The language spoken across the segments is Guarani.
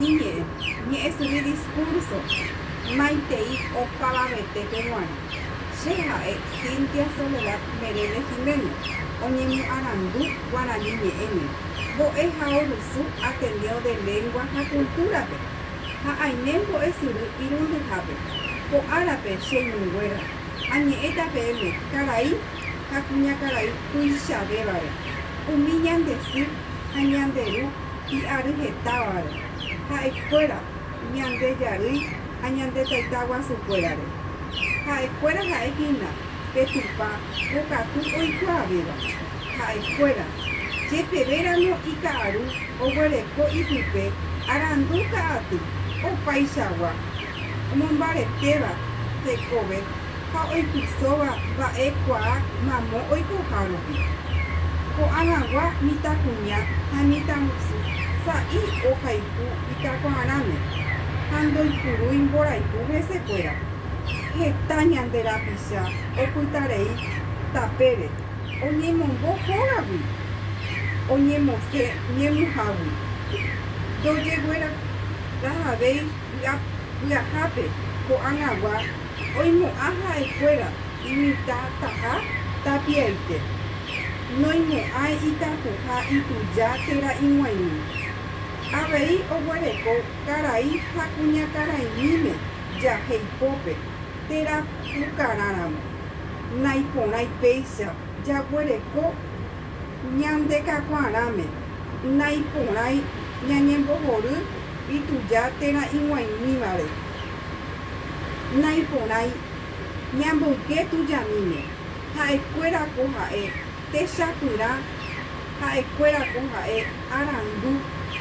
Iñe'ẽ, ñe'ẽsyry diskúrso maitei opavavetépe g̃uarã. Che ha'e Cynthia Soledad Merelle Gimeno, oñemoarandu Guarani Ñe'ẽme, Mbo'e ha Orusu Ateneo de Lengua ha Cultura-pe, ha aime mbo'esyry irundyhápe. Ko árape, che ñuguéra, añe'ẽta peẽme karai ha kuñakarai tuichavévare, umi ñande sy ha ñande ru Hi'áry hetávare, ha'ekuéra ñande jarýi ha ñande taita guasukuérare. Ha'ekuéra ha'e hína pe Tupã pokatu oikuaavéva. Ha'ekuéra, jepevéramo ika'aru oguereko ipype arandu ka'aty, opaichagua. omombaretéva hekove ha oipysóva mba'e kuaa mamo oikoha rupi. Ko'ã hagua mitãkuña ha mitãgusu sa'i ohayhu itakuaarãme ha ndoipurúi mborayhu hesekuéra. Heta ñande rapicha opytarei tapére oñemombo hógagui oñemosẽ ñemuhágui. Ndojeguerahavéi. py'ahápe ko'ag̃agua oimo'ã ha'ekuéra imitãtaha tapiaite, noimo'ãi itakuha ituja térã ig̃uaig̃ui. Avei oguereko karai ha kuñakaraimíme jahe ipópe térã pukarãramo, naiporãi péicha jaguereko. Ñandekakuaarãme, naiporãi ñañembohory ituja térã ig̃uaimívare. Naiporãi ñamboyke tujamíme, ha'ekuéra ko ha'e techapyrã, ha'ekuéra ko ha'e arandu,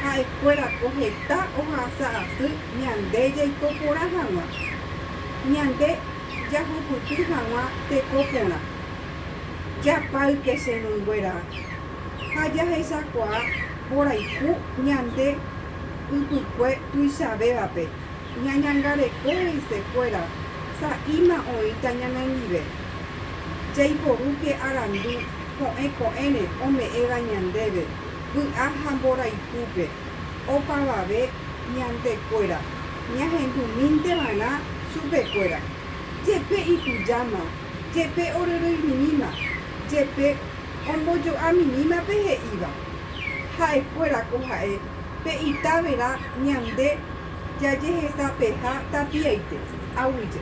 ha'ekuéra ko heta ohasa asy ñande jaiko porã hag̃ua, ñande jahupyty hag̃ua teko porã. Japayke che rũnguéra ha jahechakuaa mborayhu ñande ypykue tuichavévape, ñañangareko he'ise kuéra sa'íma oĩta ñanendive. Jaiporúke arandu ko'ẽ ko'ẽre ome'ẽva ñandéve vy'a ha mborayhúpe, opavave ñande kuéra ñahendu mínte va'erã chupe kuéra. Jepe itujáma jepe oryryimirĩma, jepe ombojo'amirĩma pe he'íva. Ha'ekuéra ko ha'e pe itavera ñande jajehesapeha tapiaite, aguyje.